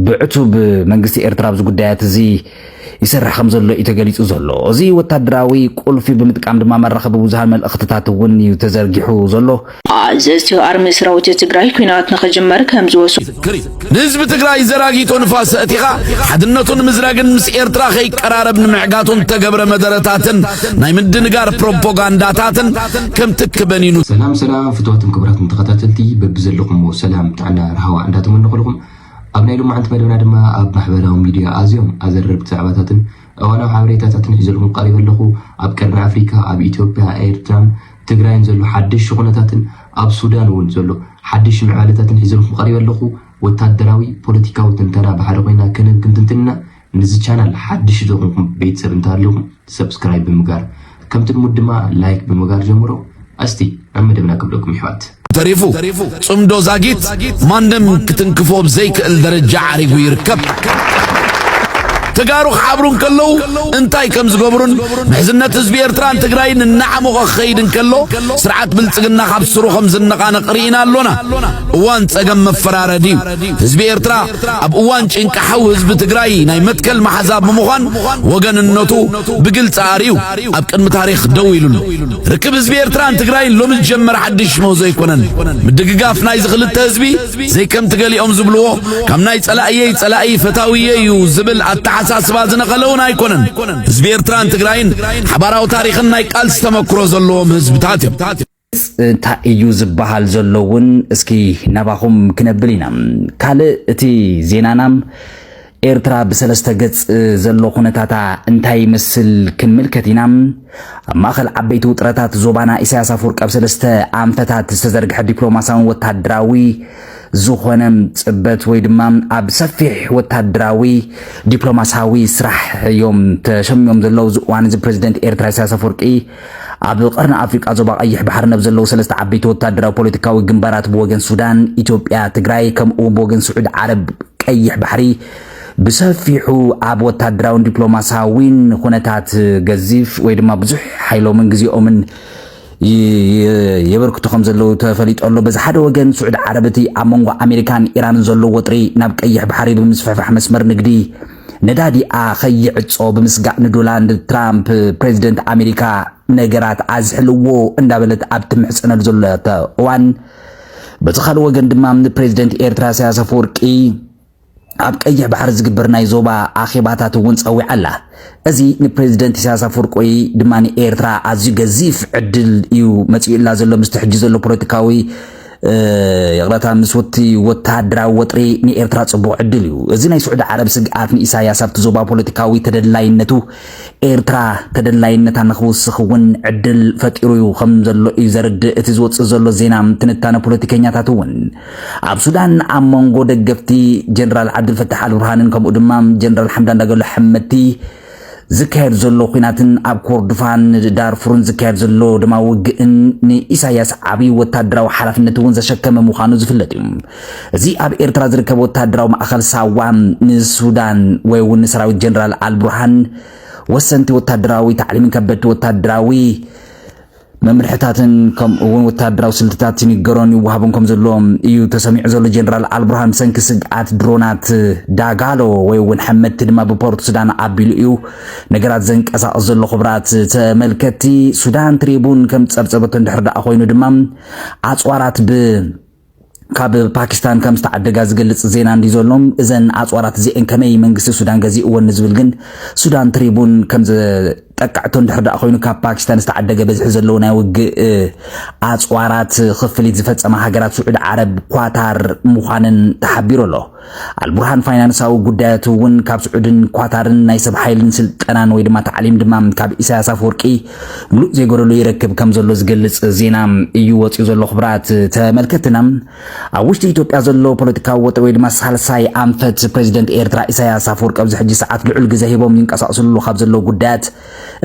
ብዕቱብ መንግስቲ ኤርትራ ኣብዚ ጉዳያት እዚ ይሰርሕ ከም ዘሎ እዩ ተገሊጹ ዘሎ። እዚ ወታደራዊ ቁልፊ ብምጥቃም ድማ መራኸቢ ብዙሃን መልእኽትታት እውን እዩ ተዘርጊሑ ዘሎ። ኣዘዝቲ ኣርሚ ሰራዊት ትግራይ ኲናት ንኽጅመር ከም ዝወሰኑ ይዝክር እዩ። ንህዝቢ ትግራይ ዘራጊቶ ንፋስ ኣእቲኻ ሓድነቱ ንምዝራግን ምስ ኤርትራ ከይቀራረብ ንምዕጋቱን ዝተገብረ መደረታትን ናይ ምድንጋር ፕሮፓጋንዳታትን ከም ትኪ በኒኑ ሰላም ሰላም ፍትዋትን ክቡራትን ተኸታተልቲ በብዘለኹምዎ ሰላም ጥዕና ርሃዋ እንዳተመነኹልኹም ኣብ ናይ ሎማዕንቲ መደብና ድማ ኣብ ማሕበራዊ ሚድያ ኣዝዮም ኣዘረርቲ ዛዕባታትን እዋናዊ ሓበሬታታትን ሒዘልኩም ቀሪበ ኣለኹ። ኣብ ቀርኒ ኣፍሪካ፣ ኣብ ኢትዮጵያ፣ ኤርትራን ትግራይን ዘሎ ሓደሽቲ ኩነታትን ኣብ ሱዳን እውን ዘሎ ሓደሽቲ ምዕባለታትን ሒዘልኩም ቀሪበ ኣለኹ። ወታደራዊ ፖለቲካዊ ትንተና ብሓደ ኮይና ክንብ ክንትንትን ኢና። ንዚ ቻናል ሓድሽ ዝኾንኩም ቤተሰብ እንተሃሊኹም ሰብስክራይብ ብምጋር ከምቲ ልሙድ ድማ ላይክ ብምጋር ጀምሮ እስቲ ናብ መደብና ክብለኩም ይሕዋት። ተሪፉ ጽምዶ ዛጊት ማንም ክትንክፎ ብ ዘይክእል ደረጃ ዓሪጉ ይርከብ። ተጋሩ ክሓብሩ እንከለዉ እንታይ ከም ዝገብሩን ምሕዝነት ህዝቢ ኤርትራን ትግራይን እናዓሞቐ ክኸይድ እንከሎ ስርዓት ብልጽግና ካብ ስሩ ከም ዝነቓነቕ ርኢና ኣሎና። እዋን ጸገም መፈራረዲ እዩ። ህዝቢ ኤርትራ ኣብ እዋን ጭንቂ ሓው ህዝቢ ትግራይ ናይ መትከል መሓዛ ብምዃን ወገንነቱ ብግልፂ ኣርዩ ኣብ ቅድሚ ታሪኽ ደው ኢሉሉ ርክብ ህዝቢ ኤርትራን ትግራይን ሎሚ ዝጀመረ ሓድሽ ምህዞ ኣይኮነን ምድግጋፍ ናይዚ ክልተ ህዝቢ ዘይከምቲ ገሊኦም ዝብልዎ ካብ ናይ ጸላእየይ ጸላኢ ፈታውየ እዩ ዝብል ኣተሓሳስባ ዝነቐለ እውን ኣይኮነን ህዝቢ ኤርትራን ትግራይን ሓባራዊ ታሪኽን ናይ ቃልሲ ተመክሮ ዘለዎም ህዝብታት እዮም እንታይ እዩ ዝበሃል ዘሎ እውን እስኪ ናባኹም ክነብል ኢና። ካልእ እቲ ዜናና ኤርትራ ብሰለስተ ገጽ ዘሎ ኩነታታ እንታይ ይመስል ክንምልከት ኢና። ኣብ ማእኸል ዓበይቲ ውጥረታት ዞባና ኢሳያስ ኣፈወርቂ ኣብ ሰለስተ ኣንፈታት ዝተዘርግሐ ዲፕሎማስያውን ወታደራዊ ዝኾነ ፅበት ወይ ድማ ኣብ ሰፊሕ ወታደራዊ ዲፕሎማስያዊ ስራሕ እዮም ተሸሚዮም ዘለዉ እዚ እዋን እዚ ፕሬዚደንት ኤርትራ ኢሳያስ ኣፈወርቂ ኣብ ቐርኒ ኣፍሪቃ ዞባ ቐይሕ ባሕሪ ነብ ዘለዉ ሰለስተ ዓበይቲ ወታደራዊ ፖለቲካዊ ግንባራት ብወገን ሱዳን፣ ኢትዮጵያ፣ ትግራይ ከምኡ'ውን ብወገን ስዑድ ዓረብ ቀይሕ ባሕሪ ብሰፊሑ ኣብ ወታደራውን ዲፕሎማሳዊን ኹነታት ገዚፍ ወይ ድማ ብዙሕ ሓይሎምን ግዜኦምን የበርክቱ ከም ዘለዉ ተፈሊጦ ኣሎ። በዚ ሓደ ወገን ስዑድ ዓረብ እቲ ኣብ መንጎ ኣሜሪካን ኢራንን ዘሎ ወጥሪ ናብ ቀይሕ ባሕሪ ብምስፍሕፋሕ መስመር ንግዲ ነዳዲኣ ከይዕጾ ብምስጋእ ንዶላንድ ትራምፕ ፕሬዚደንት ኣሜሪካ ነገራት ኣዝሕልዎ እንዳበለት ኣብ ትምሕጸነሉ ዘለቶ እዋን በቲ ካልእ ወገን ድማ ንፕሬዚደንት ኤርትራ ኢሳያስ ኣፈወርቂ ኣብ ቀይሕ ባሕሪ ዝግበር ናይ ዞባ ኣኼባታት እውን ጸዊዓ ኣላ እዚ ንፕሬዚደንት ኢሳያስ ኣፈወርቂ ወይ ድማ ንኤርትራ ኣዝዩ ገዚፍ ዕድል እዩ መጺኡላ ዘሎ ምስቲ ሕጂ ዘሎ ፖለቲካዊ ይቕረታ ምስውቲ ወተሃደራዊ ወጥሪ ንኤርትራ ጽቡቕ ዕድል እዩ። እዚ ናይ ስዑዲ ዓረብ ስግኣት ንኢሳያስ ኣብቲ ዞባ ፖለቲካዊ ተደላይነቱ ኤርትራ ተደላይነታ ንኽውስኽ እውን ዕድል ፈጢሩ እዩ ከም ዘሎ እዩ ዘርድእ እቲ ዝወጽእ ዘሎ ዜና ትንታነ ፖለቲከኛታት እውን ኣብ ሱዳን ኣብ መንጎ ደገፍቲ ጀነራል ዓብዱልፈታሕ ኣልቡርሃንን ከምኡ ድማ ጀነራል ሓምዳን ዳገሎ ሓመድቲ ዝካየድ ዘሎ ኲናትን ኣብ ኮርዱፋን ዳርፉርን ዝካየድ ዘሎ ደማዊ ውግእን ንኢሳያስ ዓብዪ ወታደራዊ ሓላፍነት እውን ዘሸከመ ምዃኑ ዝፍለጥ እዩ። እዚ ኣብ ኤርትራ ዝርከብ ወታደራዊ ማእኸል ሳዋ ንሱዳን ወይ እውን ንሰራዊት ጀነራል ኣልቡርሃን ወሰንቲ ወታደራዊ ታዕሊምን ከበድቲ ወታደራዊ መምርሕታትን ከምኡ እውን ወተሃደራዊ ስልትታት ይንገሮን ይወሃቡን ከም ዘሎ እዩ ተሰሚዑ ዘሎ። ጀነራል ኣልቡርሃን ብሰንኪ ስግኣት ድሮናት ዳጋሎ ወይ እውን ሐመድቲ ድማ ብፖርት ሱዳን ኣቢሉ እዩ ነገራት ዘንቀሳቕስ ዘሎ ክብራት ተመልከቲ ሱዳን ትሪቡን ከም ፀብፀበቶ እንድሕር ደኣ ኮይኑ ድማ ኣፅዋራት ብ ካብ ፓኪስታን ከም ዝተዓደጋ ዝገልጽ ዜና እንድዩ ዘሎ። እዘን ኣጽዋራት እዚኤን ከመይ መንግስቲ ሱዳን ገዚእወን ንዝብል ግን ሱዳን ትሪቡን ከም ዝጠቀዐቶ እንድሕር ደኣ ኮይኑ ካብ ፓኪስታን ዝተዓደገ በዝሒ ዘለዎ ናይ ውግእ ኣጽዋራት ክፍሊት ዝፈጸማ ሃገራት ስዑድ ዓረብ፣ ኳታር ምዃነን ተሓቢሩ ኣሎ። ኣልቡርሃን ፋይናንሳዊ ጉዳያቱ እውን ካብ ስዑድን ኳታርን ናይ ሰብ ሓይልን ስልጠናን ወይ ድማ ታዕሊም ድማ ካብ ኢሳያስ ኣፈወርቂ ምሉእ ዘይጎደሎ ይረክብ ከም ዘሎ ዝገልጽ ዜና እዩ ወፂኡ ዘሎ ክብራት ተመልከትና ኣብ ውሽጢ ኢትዮጵያ ዘሎ ፖለቲካዊ ወጥሪ ወይ ድማ ሳልሳይ ኣንፈት ፕሬዚደንት ኤርትራ ኢሳያስ ኣፈወርቂ ኣብዚ ሕጂ ሰዓት ልዑል ግዘ ሂቦም ይንቀሳቀስሉ ካብ ዘለዉ ጉዳያት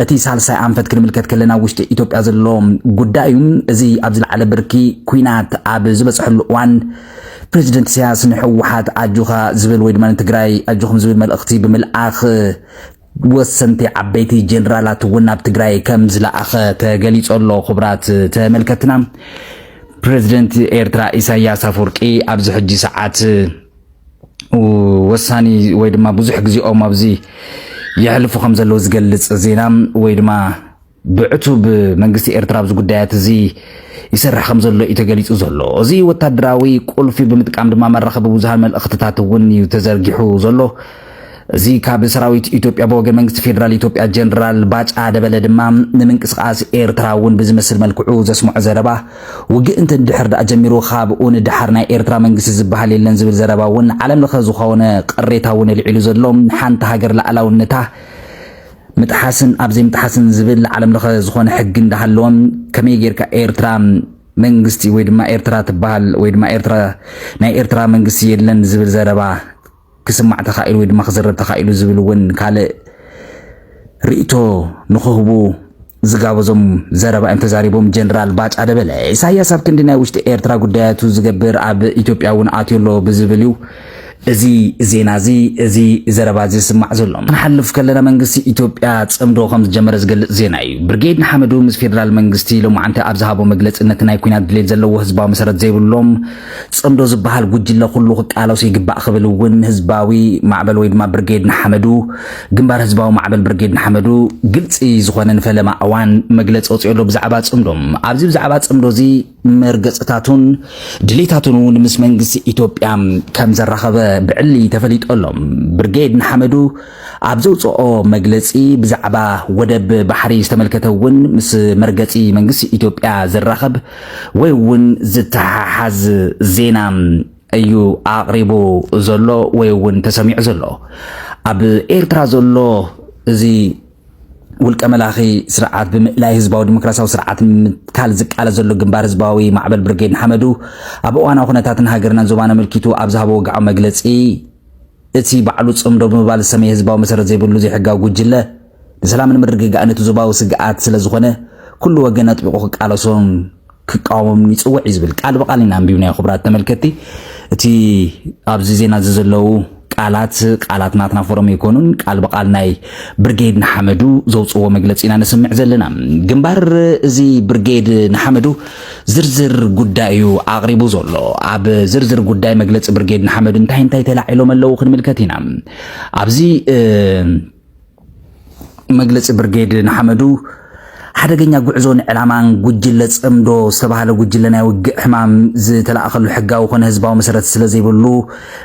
እቲ ሳልሳይ ኣንፈት ክንምልከት ከለና ውሽጢ ኢትዮጵያ ዘሎ ጉዳይ እዩ እዚ ኣብ ዝለዓለ ብርኪ ኩናት ኣብ ዝበፅሐሉ እዋን ፕረዚደንት ኢሳያስ ንሕወሓት ኣጆኻ ዝብል ወይ ድማ ንትግራይ ኣጆኹም ዝብል መልእኽቲ ብምልኣኽ ወሰንቲ ዓበይቲ ጀነራላት እውን ናብ ትግራይ ከም ዝለኣኸ ተገሊጾ ኣሎ። ክቡራት ተመልከትና ፕረዚደንት ኤርትራ ኢሳያስ ኣፈወርቂ ኣብዚ ሕጂ ሰዓት ወሳኒ ወይ ድማ ብዙሕ ግዜኦም ኣብዚ የሕልፉ ከም ዘለዉ ዝገልጽ ዜና ወይ ድማ ብዕቱብ መንግስቲ ኤርትራ ኣብዚ ጉዳያት እዚ ይሰርሕ ከም ዘሎ እዩ ተገሊጹ ዘሎ። እዚ ወታደራዊ ቁልፊ ብምጥቃም ድማ መራኸቢ ብዙሃን መልእኽትታት እውን እዩ ተዘርጊሑ ዘሎ። እዚ ካብ ሰራዊት ኢትዮጵያ ብወገን መንግስቲ ፌዴራል ኢትዮጵያ ጀነራል ባጫ ደበለ ድማ ንምንቅስቓስ ኤርትራ እውን ብዝመስል መልክዑ ዘስምዖ ዘረባ ውግእ እንተ ድሕር ደኣ ጀሚሩ ካብኡ ንደሓር ናይ ኤርትራ መንግስቲ ዝበሃል የለን ዝብል ዘረባ እውን ዓለም ለኸ ዝኾነ ቅሬታ እውን ኣልዒሉ ዘሎ ሓንቲ ሃገር ላእላውነታ ምጥሓስን ኣብ ዘይምጥሓስን ዝብል ዓለም ለኸ ዝኾነ ሕጊ እንዳሃለወ ከመይ ጌርካ ኤርትራ መንግስቲ ወይ ድማ ኤርትራ ትበሃል ወይ ድማ ኤርትራ ናይ ኤርትራ መንግስቲ የለን ዝብል ዘረባ ክስማዕ ተኻኢሉ ወይ ድማ ክዝረብ ተኻኢሉ ዝብል እውን ካልእ ርእይቶ ንኽህቡ ዝጋበዞም ዘረባ እዮም ተዛሪቦም ጀነራል ባጫ ደበለ። ኢሳያስ ኣብ ክንዲ ናይ ውሽጢ ኤርትራ ጉዳያቱ ዝገብር ኣብ ኢትዮጵያ እውን ኣትዮ ኣሎ ብዝብል እዩ እዚ ዜና እዚ እዚ ዘረባ እዚ ዝስማዕ ዘሎ ክንሓልፍ ከለና መንግስቲ ኢትዮጵያ ጽምዶ ከም ዝጀመረ ዝገልጽ ዜና እዩ። ብርጌድ ንሓመዱ ምስ ፌደራል መንግስቲ ሎማዓንቲ ኣብ ዝሃቦ መግለጺ ነቲ ናይ ኩናት ድሌት ዘለዎ ህዝባዊ መሰረት ዘይብሎም ጽምዶ ዝበሃል ጉጅለ ኩሉ ክቃለሶ ይግባእ ክብል እውን ህዝባዊ ማዕበል ወይ ድማ ብርጌድ ንሓመዱ፣ ግንባር ህዝባዊ ማዕበል ብርጌድ ንሓመዱ፣ ግልጺ ዝኾነ ንፈለማ እዋን መግለጺ ኣውጺኡ ኣሎ ብዛዕባ ጽምዶ። ኣብዚ ብዛዕባ ጽምዶ እዚ መርገጽታቱን ድሌታቱን እውን ምስ መንግስቲ ኢትዮጵያ ከም ዘራኸበ ብዕሊ ተፈሊጡ ኣሎ። ብርጌድ ንሓመዱ፣ ኣብ ዘውጽኦ መግለጺ ብዛዕባ ወደብ ባሕሪ ዝተመልከተ እውን ምስ መርገጺ መንግስቲ ኢትዮጵያ ዝራኸብ ወይ እውን ዝተሓሓዝ ዜና እዩ ኣቕሪቡ ዘሎ ወይ እውን ተሰሚዑ ዘሎ። ኣብ ኤርትራ ዘሎ እዚ ውልቀ መላኺ ስርዓት ብምእላይ ህዝባዊ ዲሞክራሲያዊ ስርዓት ንምትካል ዝቃለ ዘሎ ግንባር ህዝባዊ ማዕበል ብርጌድ ንሓመዱ ኣብ እዋናዊ ኩነታትን ሃገርናን ዞባን ኣመልኪቱ ኣብ ዝሃቦ ወግዓዊ መግለጺ እቲ ባዕሉ ጽምዶ ብምባል ዝሰመየ ህዝባዊ መሰረት ዘይብሉ ዘይሕጋዊ ጉጅለ፣ ንሰላምን ምርግጋእን እቲ ዞባዊ ስግኣት ስለ ዝኾነ፣ ኩሉ ወገን ኣጥቢቑ ክቃለሶን ክቃወሞምን ይጽውዕ እዩ ዝብል ቃል ብቓል ኢና ኣንቢብናዮ። ክቡራት ተመልከትቲ፣ እቲ ኣብዚ ዜና እዚ ዘለዉ ቃላት ቃላት ናትና ፎረም ኣይኮኑን። ቃል ብቓል ናይ ብርጌድ ንሓመዱ ዘውጽዎ መግለጺ ኢና ነስምዕ ዘለና። ግንባር እዚ ብርጌድ ንሓመዱ ዝርዝር ጉዳይ እዩ ኣቕሪቡ ዘሎ። ኣብ ዝርዝር ጉዳይ መግለፂ ብርጌድ ንሓመዱ እንታይ እንታይ ተላዒሎም ኣለዉ ክንምልከት ኢና። ኣብዚ መግለፂ ብርጌድ ንሓመዱ ሓደገኛ ጉዕዞ ንዕላማን ጉጅለ ጽምዶ ዝተባህለ ጉጅለ ናይ ውግእ ሕማም ዝተላእኸሉ ሕጋዊ ኮነ ህዝባዊ መሰረት ስለ ዘይብሉ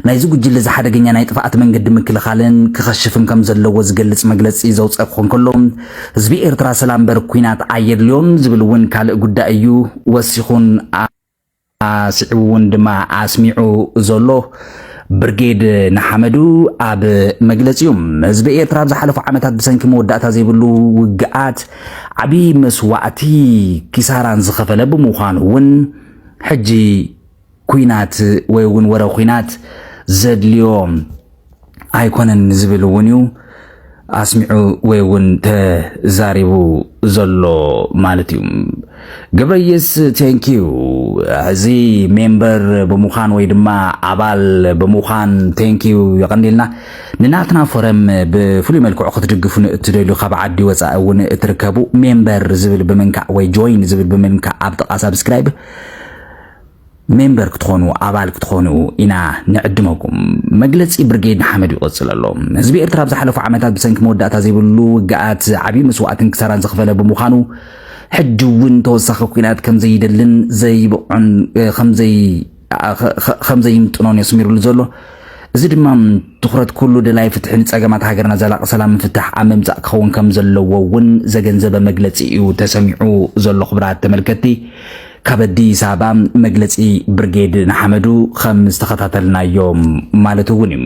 ናይዚ ጉጅለ እዚ ሓደገኛ ናይ ጥፍኣት መንገዲ ምክልኻልን ክኸሽፍን ከም ዘለዎ ዝገልጽ መግለጺ ዘውጸ ክኾን ከሎ፣ ህዝቢ ኤርትራ ሰላም እምበር ኩናት ኣየድልዮን ዝብል እውን ካልእ ጉዳይ እዩ ወሲኹን ኣስዒቡ እውን ድማ ኣስሚዑ ዘሎ። ብርጌድ ንሓመዱ ኣብ መግለጺኡ ህዝቢ ኤርትራ ኣብ ዝሓለፉ ዓመታት ብሰንኪ መወዳእታ ዘይብሉ ውግኣት ዓብዪ መስዋእቲ ኪሳራን ዝኸፈለ ብምዃኑ እውን ሕጂ ኩናት ወይ እውን ወረ ኩናት ዘድልዮ ኣይኮነን ዝብል እውን እዩ ኣስሚዑ ወይ እውን ተዛሪቡ ዘሎ ማለት እዩ ግብረየስ ቴንኪዩ እዚ ሜምበር ብምዃን ወይ ድማ ኣባል ብምዃን ቴንኪዩ የቐኒልና ንናትና ፎረም ብፍሉይ መልክዑ ክትድግፉ ንእትደልዩ ካብ ዓዲ ወፃኢ እውን እትርከቡ ሜምበር ዝብል ብምንካዕ ወይ ጆይን ዝብል ብምንካዕ ኣብ ጥቓ ሳብስክራይብ ሜምበር ክትኾኑ ኣባል ክትኾኑ ኢና ንዕድመኩም። መግለጺ ብርጌድ ንሓመዱ ይቕጽል ኣሎ። ህዝቢ ኤርትራ ኣብ ዝሓለፉ ዓመታት ብሰንኪ መወዳእታ ዘይብሉ ውግኣት ዓብዪ መስዋእትን ክሳራን ዝኸፈለ ብምዃኑ ሕጂ እውን ተወሳኺ ኲናት ከም ዘይደልን ዘይብቕዑን ከም ዘይምጥኖን የስሚሩሉ ዘሎ እዚ ድማ ትኹረት ኩሉ ደላይ ፍትሒ ንጸገማት ሃገርና ዘላቒ ሰላም ምፍታሕ ኣብ ምምጻእ ክኸውን ከም ዘለዎ እውን ዘገንዘበ መግለጺ እዩ ተሰሚዑ ዘሎ ክቡራት ተመልከትቲ ካብ ኣዲስ ኣበባ መግለፂ ብርጌድ ንሓመዱ ከም ዝተኸታተልናዮ ማለት እውን እዩ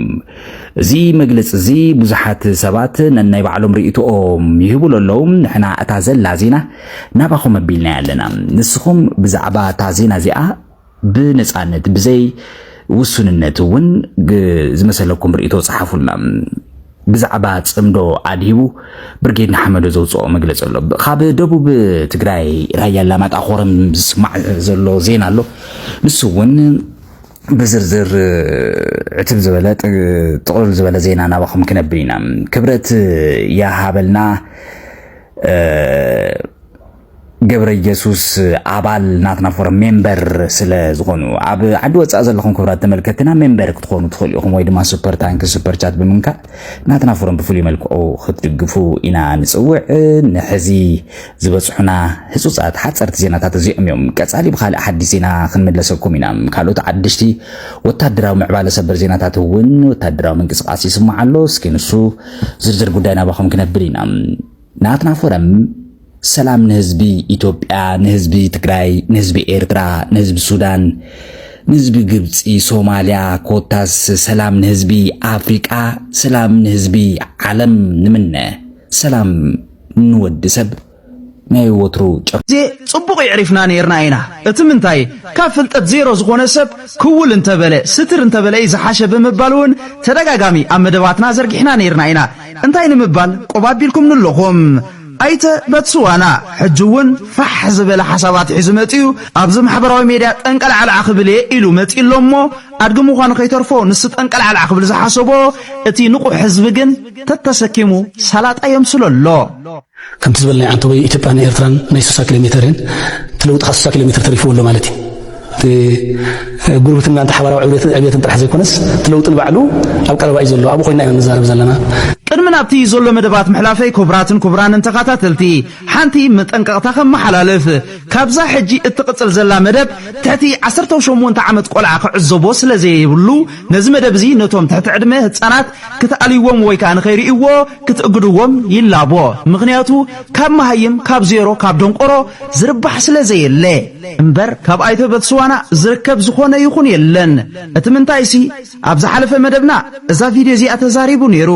እዚ መግለፂ እዚ ብዙሓት ሰባት ነናይ ባዕሎም ርእይቶኦም ይህቡሉ ኣለዉ ንሕና እታ ዘላ ዜና ናባኹም ኣቢልና ኣለና ንስኹም ብዛዕባ እታ ዜና እዚኣ ብነፃነት ብዘይ ውሱንነት እውን ዝመሰለኩም ርእይቶ ፀሓፉልና ብዛዕባ ጽምዶ ኣድሂቡ ብርጌድ ንሓመዶ ዘውፅኦ መግለፂ ኣሎ። ካብ ደቡብ ትግራይ ራያ ኣላማጣ ኮረም ዝስማዕ ዘሎ ዜና ኣሎ። ንሱ እውን ብዝርዝር ዕትብ ዝበለ ጥቕልል ዝበለ ዜና ናባኹም ክነብል ኢና። ክብረት ያሃበልና ገብረየሱስ ኣባል ናትና ፎረም ሜምበር ስለ ዝኾኑ ኣብ ዓዲ ወፃእ ዘለኹም ክብራት ተመልከትና ሜምበር ክትኾኑ ትኽእሉ ኢኹም ወይ ድማ ሱፐር ታንክ ሱፐር ቻት ብምንካእ ናትና ፎረም ብፍሉይ መልክዑ ክትድግፉ ኢና ንፅውዕ ንሕዚ ዝበፅሑና ህፁፃት ሓፀርቲ ዜናታት እዚኦም እዮም ቀፃሊ ብካልእ ሓዲስ ዜና ክንምለሰኩም ኢና ካልኦት ዓደሽቲ ወታደራዊ ምዕባለ ሰበር ዜናታት እውን ወታደራዊ ምንቅስቃስ ይስማዕ ኣሎ እስኪ ንሱ ዝርዝር ጉዳይ ናባኹም ክነብል ኢና ናትና ፎረም ሰላም ንህዝቢ ኢትዮጵያ፣ ንህዝቢ ትግራይ፣ ንህዝቢ ኤርትራ፣ ንህዝቢ ሱዳን፣ ንህዝቢ ግብፂ፣ ሶማሊያ፣ ኮታስ ሰላም ንህዝቢ ኣፍሪቃ፣ ሰላም ንህዝቢ ዓለም ንምነ። ሰላም ንወዲ ሰብ ናይ ወትሩ ጭር ዜ ጽቡቕ የዕሪፍና ኔርና ኢና እቲ ምንታይ ካብ ፍልጠት ዜሮ ዝኾነ ሰብ ክውል እንተበለ ስትር እንተበለ እዩ ዝሓሸ ብምባል እውን ተደጋጋሚ ኣብ መደባትና ዘርጊሕና ኔርና ኢና እንታይ ንምባል ቆብ ኣቢልኩም ንለኹም። ኣይተ በትስዋና ሕጂ እውን ፋሕ ዝበለ ሓሳባት ሒዙ መጺኡ ኣብዚ ማሕበራዊ ሜድያ ጠንቀልዓልዓ ክብል እየ ኢሉ መጺኡ ኣሎ እሞ ኣድጊ ምዃኑ ከይተርፎ ንሱ ጠንቀልዓልዓ ክብል ዝሓሰቦ እቲ ንቑሕ ህዝቢ ግን ተተሰኪሙ ሳላጣ የምስሎ ኣሎ። ከምቲ ዝበል ናይ ዓንተቦይ ኢትዮጵያ ን ኤርትራን ናይ ስሳ ኪሎሜተር እየን እቲ ለውጢ ከኣ ስሳ ኪሎሜተር ተሪፍዎ ኣሎ ማለት እዩ እቲ ጉርብትና እንተ ሓባራዊ ዕብየትን ዕብየትን ጥራሕ ዘይኮነስ እቲ ለውጢ ንባዕሉ ኣብ ቀረባ እዩ ዘሎ ኣብኡ ኮይና ኢና ንዛረብ ዘለና ቅድሚ ናብቲ ዘሎ መደባት ምሕላፈይ ኩቡራትን ኩቡራንን ተኻታተልቲ ሓንቲ መጠንቀቕታ ከመሓላልፍ ካብዛ ሕጂ እትቕጽል ዘላ መደብ ትሕቲ ዓሰርተው ሸሞንተ ዓመት ቆልዓ ክዕዘቦ ስለዘየብሉ ነዚ መደብ እዚ ነቶም ትሕቲ ዕድመ ህጻናት ክትኣልይዎም ወይ ከኣ ንኸይርእይዎ ክትእግድዎም ይላቦ ምኽንያቱ ካብ መሃይም ካብ ዜሮ ካብ ደንቆሮ ዝርባሕ ስለ ዘየለ እምበር ካብ ኣይተ በትስዋና ዝርከብ ዝኾነ ይኹን የለን እቲ ምንታይሲ ኣብ ዝሓለፈ መደብና እዛ ቪድዮ እዚኣ ተዛሪቡ ኔሩ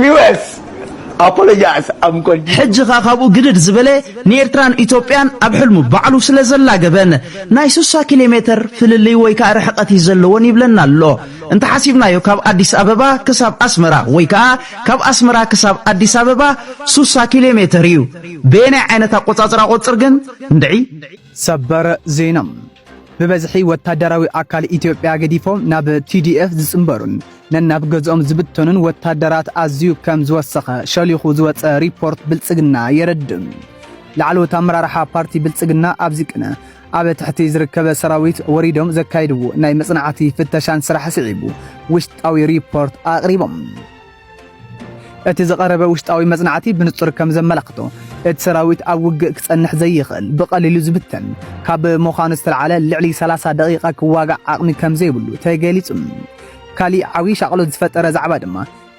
ሚወስ ኣፖሎጃስ ኣምኮል ሕጂ ከ ካብኡ ግድድ ዝበለ ንኤርትራን ኢትዮጵያን ኣብ ሕልሙ ባዕሉ ስለ ዘላገበን ናይ ስሳ ኪሎ ሜተር ፍልልይ ወይ ከዓ ርሕቀት እዩ ዘለዎን ይብለና ኣሎ እንተ ሓሲብናዮ ካብ ኣዲስ ኣበባ ክሳብ ኣስመራ ወይ ከዓ ካብ ኣስመራ ክሳብ ኣዲስ ኣበባ ስሳ ኪሎ ሜተር እዩ በየናይ ዓይነት ኣቆፃፅራ ቆፅር ግን እንድዒ ሰበር ዜና ብበዝሒ ወታደራዊ ኣካል ኢትዮጵያ ገዲፎም ናብ ቲዲኤፍ ዝጽንበሩን ነናብ ገዝኦም ዝብተኑን ወታደራት ኣዝዩ ከም ዝወሰኸ ሸሊኹ ዝወጸ ሪፖርት ብልጽግና የረድእ። ላዕለዎት ኣመራርሓ ፓርቲ ብልጽግና ኣብዚ ቅነ ኣብ ትሕቲ ዝርከበ ሰራዊት ወሪዶም ዘካይድዎ ናይ መጽናዕቲ ፍተሻን ስራሕ ስዒቡ ውሽጣዊ ሪፖርት ኣቕሪቦም። እቲ ዝቐረበ ውሽጣዊ መጽናዕቲ ብንጹር ከም ዘመላኽቶ እቲ ሰራዊት ኣብ ውግእ ክጸንሕ ዘይኽእል ብቐሊሉ ዝብተን ካብ ምዃኑ ዝተልዓለ ልዕሊ 30 ደቂቓ ክዋጋእ ዓቕሚ ከም ዘይብሉ ተገሊጹ። ካሊእ ዓብዪ ሻቕሎት ዝፈጠረ ዛዕባ ድማ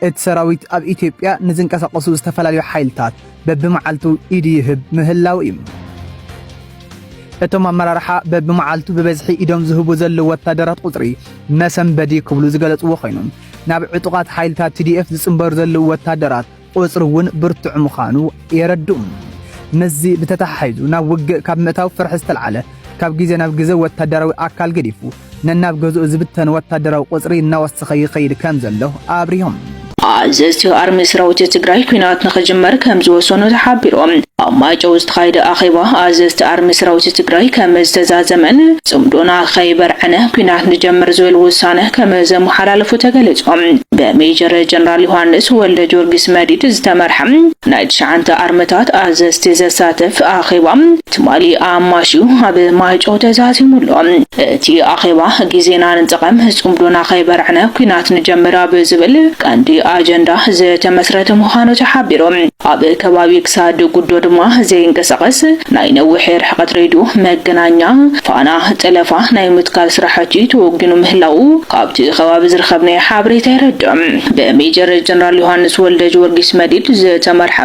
እቲ ሰራዊት ኣብ ኢትዮጵያ ንዝንቀሳቐሱ ዝተፈላለዩ ሓይልታት በብመዓልቱ ኢዱ ይህብ ምህላው እዩ። እቶም ኣመራርሓ በብመዓልቱ ብበዝሒ ኢዶም ዝህቡ ዘለዉ ወታደራት ቁጽሪ መሰንበዲ ክብሉ ዝገለጽዎ ኮይኑ ናብ ዕጡቓት ሓይልታት ቲዲኤፍ ዝጽንበሩ ዘለዉ ወታደራት ቁጽሪ እውን ብርቱዕ ምዃኑ የረድኡ። ምስዚ ብተተሓሒዙ ናብ ውግእ ካብ ምእታው ፍርሒ ዝተልዓለ ካብ ግዜ ናብ ግዜ ወታደራዊ ኣካል ገዲፉ ነናብ ገዝኡ ዝብተን ወታደራዊ ቁጽሪ እናወሰኸ ይኸይድ ከም ዘሎ ኣብሪሆም። ኣዘዝቲ ኣርሚ ሰራዊት ትግራይ ኲናት ንኽጅመር ከም ዝወሰኑ ተሓቢሩ። ኣብ ማይጨው ዝተኻየደ ኣኼባ ኣዘዝቲ ኣርሚ ሰራዊት ትግራይ ከም ዝተዛዘመን ጽምዶና ከይበርዕነ ኲናት ንጀምር ዝብል ውሳነ ከም ዘመሓላለፉ ተገሊጹ። ብሜጀር ጀነራል ዮሃንስ ወልደጆርጊስ መዲድ ዝተመርሐ ናይ ትሽዓንተ ኣርምታት ኣዘዝቲ ዘሳትፍ ኣኼባ ትማሊ ኣማሽዩ ኣብ ማይጨው ተዛዚሙ ኣሎ። እቲ ኣኼባ ግዜና ንጠቐም፣ ጽምዶና ከይበርዕነ ኲናት ንጀምር ኣብ ዝብል ቀንዲ ኣጀንዳ ዝተመስረተ ምዃኑ ተሓቢሩ። ኣብ ከባቢ ክሳድ ጉዶ ድማ ዘይንቀሳቐስ ናይ ነዊሕ ሕቐት ሬድዮ መገናኛ ፋና ጠለፋ ናይ ምትካል ስራሕቲ ተወጊኑ ምህላዉ ካብቲ ከባቢ ዝረኸብናዮ ሓበሬታ የረድእ። ብሜጀር ጀነራል ዮሃንስ ወልደጅወርጊስ መዲድ ዝተመርሐ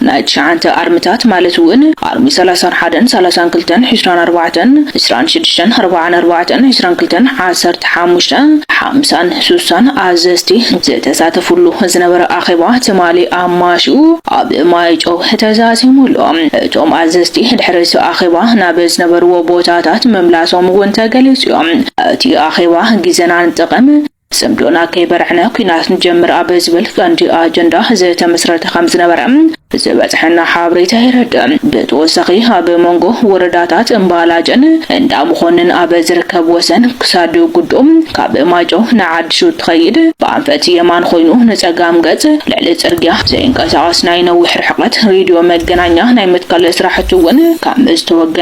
ናይ ትሽዓንተ ኣርምታት ማለት እውን ኣርሚ ሰላሳን ሓደን ሰላሳን ክልተን ዕስራን ኣርባዕተን ዕስራን ሽዱሽተን ኣርባዓን ኣርባዕተን ዕስራን ክልተን ዓሰርተ ሓሙሽተ ሓምሳን ሱሳን ኣዘዝቲ ዝተሳተፍሉ ዝነበረ ኣኼባ ትማሊ ኣማሽዩ ኣብ ማይጨው ተዛዚሙ ኣሎ። እቶም ኣዘዝቲ ድሕሪ'ቲ ኣኼባ ናብ ዝነበርዎ ቦታታት ምምላሶም'ውን ተገሊጹዮ። እቲ ኣኼባ ግዜና ንጠቐም፣ ጽምዶና ከይበርዕነ ኲናት ንጀምር ኣብ ዝብል ቀንዲ ኣጀንዳ ዝተመስረተ ከምዝነበረ ዝበጽሐና ሓበሬታ የረድእ። ብተወሳኺ ኣብ መንጎ ወረዳታት እምባላጀን እንዳመኾንን ኣብ ዝርከብ ወሰን ክሳድ ጉዶ ካብ ማይጨው ንዓዲ ሹድ ትኸይድ ብኣንፈት የማን ኾይኑ ንፀጋም ገፅ ልዕሊ ፅርግያ ዘይንቀሳቐስ ናይ ነዊሕ ርሕቐት ሬድዮ መገናኛ ናይ ምትካል ስራሕቱ እውን ካብ ዝተወገነ